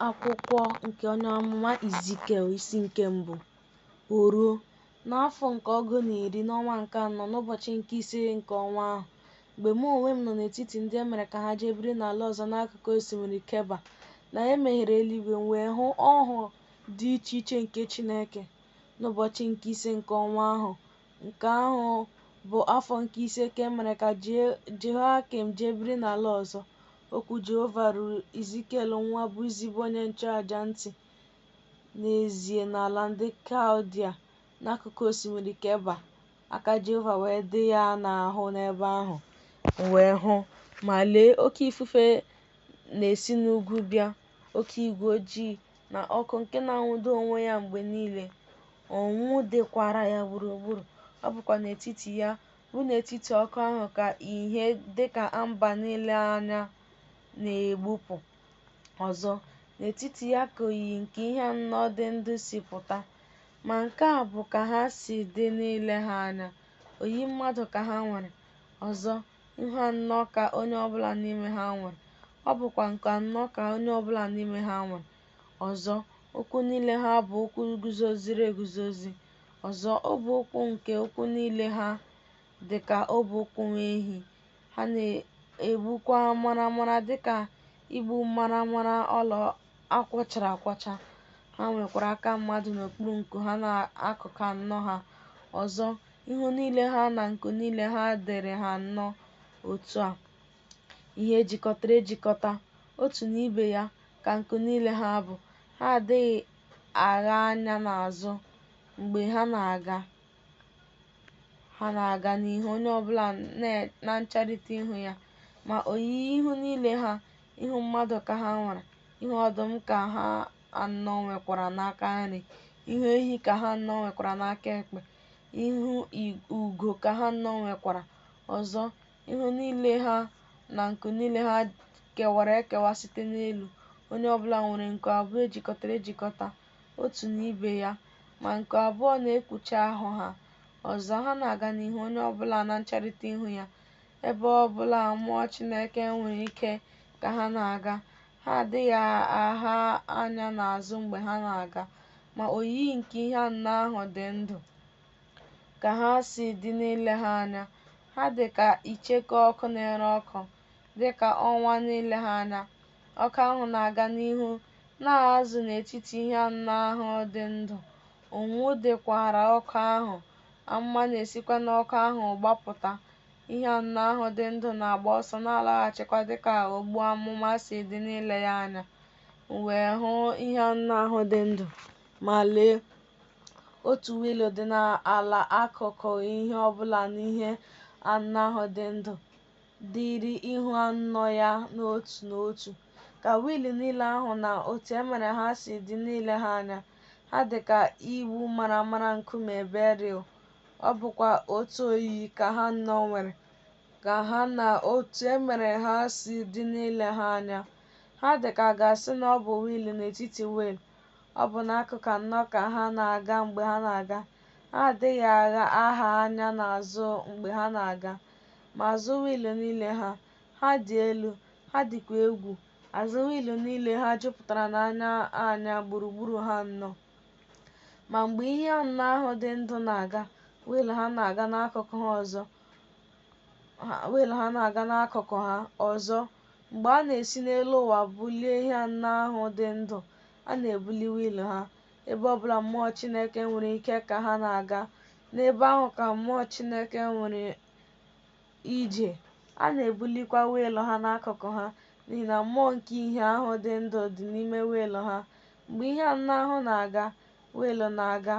Akwụkwọ nke onye amụma Izikiel isi nke mbụ. O ruo, n'afọ nke ọgụ na iri n'ọnwa nke anọ n'ụbọchị nke ise nke ọnwa ahụ, mgbe mụ onwe m nọ n'etiti ndị e mere ka ha jee biri n'ala ọzọ n'akụkụ osimiri Keba, na e meghere eluigwe, m wee hụ ọhụ dị iche iche nke Chineke. N'ụbọchị nke ise nke ọnwa ahụ, nke ahụ bụ afọ nke ise ka e mere ka Jehoiakim jee biri n'ala ọzọ, Okwu Jehova ruru Izikiel nwa Buzi bụ onye nchụaja ntị n'ezie n'ala ndị Kaldia n'akụkụ osimiri Keba, aka Jehova wee dị ya n'ahụ n'ebe ahụ. M wee hụ, ma lee, oke ifufe na-esi n'ugwu bịa, oke igwe ojii na ọkụ nke na-anwụdo onwe ya mgbe niile, onwunwu dịkwara ya gburugburu, ọ bụkwa n'etiti ya bụ n'etiti ọkụ ahụ ka ìhè dịka amba n'ile anya na-egbupụ ọzọ, n'etiti ya ka oyiyi nke ihe anọ dị ndụ si pụta. Ma nke a bụ ka ha si dị n'ile ha anya, oyiyi mmadụ ka ha nwere, ọzọ, ihu anọ ka onye ọbụla n'ime ha nwere, ọ bụkwa nku anọ ka onye ọbụla n'ime ha nwere, ọzọ, ụkwụ niile ha bụ ụkwụ guzoziri eguzozi. Ọzọ, ọbụ ụkwụ nke ụkwụ niile ha dị ka ọbụ ụkwụ nwa ehi, ha na-egbukwa maramara dị ka igbu maramara ọla a kwọchara akwọcha. Ha nwekwara aka mmadụ n'okpuru nku ha n'akụkụ anọ ha. Ọzọ, ihu niile ha na nku niile ha dịrị ha anọ otu a, ihe e jikọtara ejikọta, otu na ibe ya ka nku niile ha bụ. Ha adịghị agha anya n'azụ mgbe ha na-aga ha na-aga n'ihu onye ọbụla na ncherita ihu ya ma oyiyi ihu niile ha ihu mmadụ ka ha nwere ihu ọdụm ka ha anọ nwekwara n'aka nri ihu ehi ka ha anọ nwekwara n'aka ekpe ihu ugo ka ha anọ nwekwara ọzọ ihu niile ha na nku niile ha kewara ekewa site n'elu onye ọbụla nwere nku abụọ ejikọtara ejikọta otu na ibe ya ma nku abụọ na-ekpuchi ahụ ha ọzọ ha na-aga n'ihu onye ọbụla na ncherita ihu ya ebe ọbụla mmụọ chineke nwere ike ka ha na-aga ha adịghị agha anya n'azụ mgbe ha na-aga ma oyiyi nke ihe anọ ahụ dị ndụ Ka ha si dị n'ile ha anya, ha dị ka icheku ọkụ na-ere ọkụ, dị ka ọnwa n'ile ha anya. Ọkụ ahụ na-aga n'ihu na azụ n'etiti ihe anọ ahụ dị ndụ, onwunwu dịkwaara ọkụ ahụ, amụma na-esikwa n'ọkụ ahụ gbapụta. Ihe anọ ahụ dị ndụ na-agba ọsọ na-alaghachikwa dị ka ogbu amụma si dị n'ile ya anya. M wee hụ ihe anọ ahụ dị ndụ, ma lee! Otu wiil dị n'ala akụkụ ihe ọ bụla n'ihe anọ ahụ dị ndụ dịịrị ihu anọ ya n'otu n'otu. Ka wiil niile ahụ na otu e mere ha si dị n'ile ha anya, ha dị ka igbu maramara nkume beril, ọ bụkwa otu oyiyi ka ha anọ nwere, ka ha na otu e mere ha si dị n'ile ha anya. Ha dị ka a ga-asị na ọ bụ wiil n'etiti wiil, ọ bụ n'akụkụ anọ ka ha na-aga mgbe ha na-aga. Ha adịghị agha anya n'azụ mgbe ha na-aga. Ma azụ wiilụ niile ha, ha dị elu, ha dịkwa egwu. Azụ wiilụ niile ha jupụtara n'anya anya gburugburu ha anọ. Ma mgbe ihe anọ ahụ dị ndụ na-aga, wiilụ ha na-aga n'akụkụ ha- wiilụ ha na-aga n'akụkụ ha ọzọ Mgbe a na-esi n'elu ụwa bulie ihe anọ ahụ dị ndụ, a na-ebuli wiil ha. Ebe ọ bụla mmụọ Chineke nwere ike ka ha na-aga, n'ebe ahụ ka mmụọ Chineke nwere ije. A na-ebulikwa wiil ha n'akụkụ ha, n'ihi na mmụọ nke ihe ahụ dị ndụ dị n'ime wiil ha. Mgbe ihe anọ ahụ na-aga, wiil na-aga,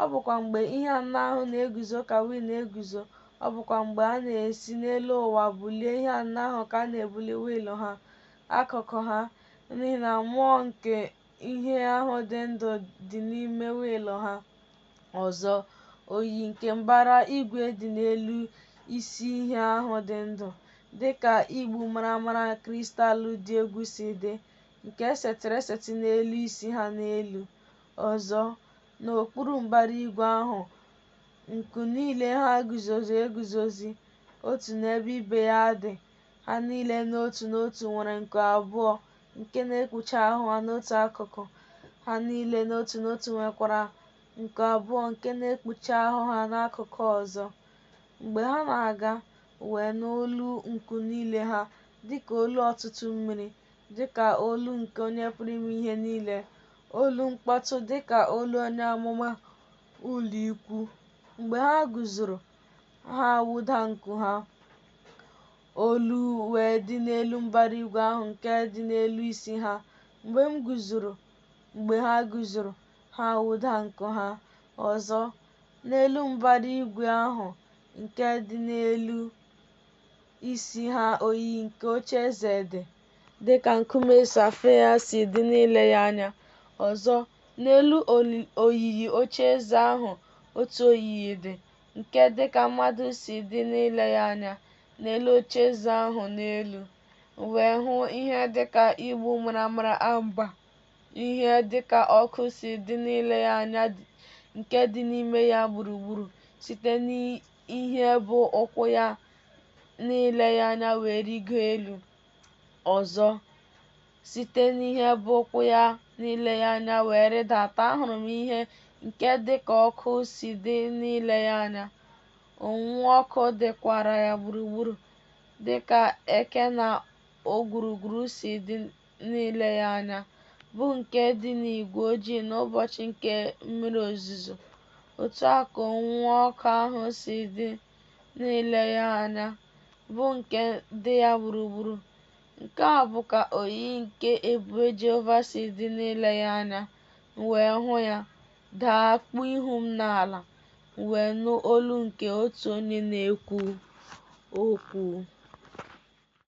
ọ bụkwa mgbe ihe anọ ahụ na-eguzo ka wiil na-eguzo, ọ bụkwa mgbe a na-esi n'elu ụwa bulie ihe anọ ahụ ka a na-ebuli wiil ha, akụkụ ha, n'ihi na mmụọ nke ihe ahụ dị ndụ dị n'ime wiil ha. Ọzọ, oyiyi nke mbara igwe dị n'elu isi ihe ahụ dị ndụ, dị ka igbu maramara kristal dị egwu si dị, nke e setịrị esetị n'elu isi ha n'elu. Ọzọ, n'okpuru mbara igwe ahụ, nku niile ha guzozi eguzozi, otu n'ebe ibe ya dị, ha niile n'otu n'otu nwere nku abụọ nke na-ekpuchi ahụ ha n'otu akụkụ, ha niile n'otu n'otu nwekwara nku abụọ nke na-ekpuchi ahụ ha n'akụkụ ọzọ. Mgbe ha na-aga, wee nụ olu nku niile ha dịka olu ọtụtụ mmiri, dịka olu nke Onye Pụrụ Ime Ihe Niile, olu mkpọtụ dịka olu onye amụma ụlọikwu. Mgbe ha guzoro, ha wụda nku ha, olu wee dị n'elu mbara igwe ahụ nke dị n'elu isi ha. Mgbe m guzoro, mgbe ha guzoro, ha wụda nku ha ọzọ n'elu mbara igwe ahụ nke dị n'elu isi ha oyiyi nke oche eze dị, dị ka nkume safaịa si dị n'ile ya anya. Ọzọ, n'elu oyiyi oche eze ahụ otu oyiyi dị, nke dị ka mmadụ si dị n'ile ya anya n'elu oche eze ahụ n'elu. M wee hụ ihe dị ka igbu maramara amba, ihe dị ka ọkụ si dị n'ile ya anya nke dị n'ime ya gburugburu site ihe bụ ụkwụ ya n'ile ya anya wee rigo elu ọzọ site n'ihe bụ ụkwụ ya n'ile ya anya wee rịdata ahụrụ m ihe nke dị ka ọkụ si dị n'ile ya anya onwunwu ọkụ dịkwara ya gburugburu dị ka eke na ogwurugwuru si dị n'ile ya anya bụ nke dị n'igwe ojii n'ụbọchị nke mmiri ozuzo, otu a ka onwunwu ọkụ ahụ si dị n'ile ya anya bụ nke dị ya gburugburu. Nke a bụ ka oyiyi nke ebube Jehova si dị n'ile ya anya, m wee hụ ya, daa kpuo ihu m n'ala, m wee nụ olu nke otu onye na-ekwu okwu.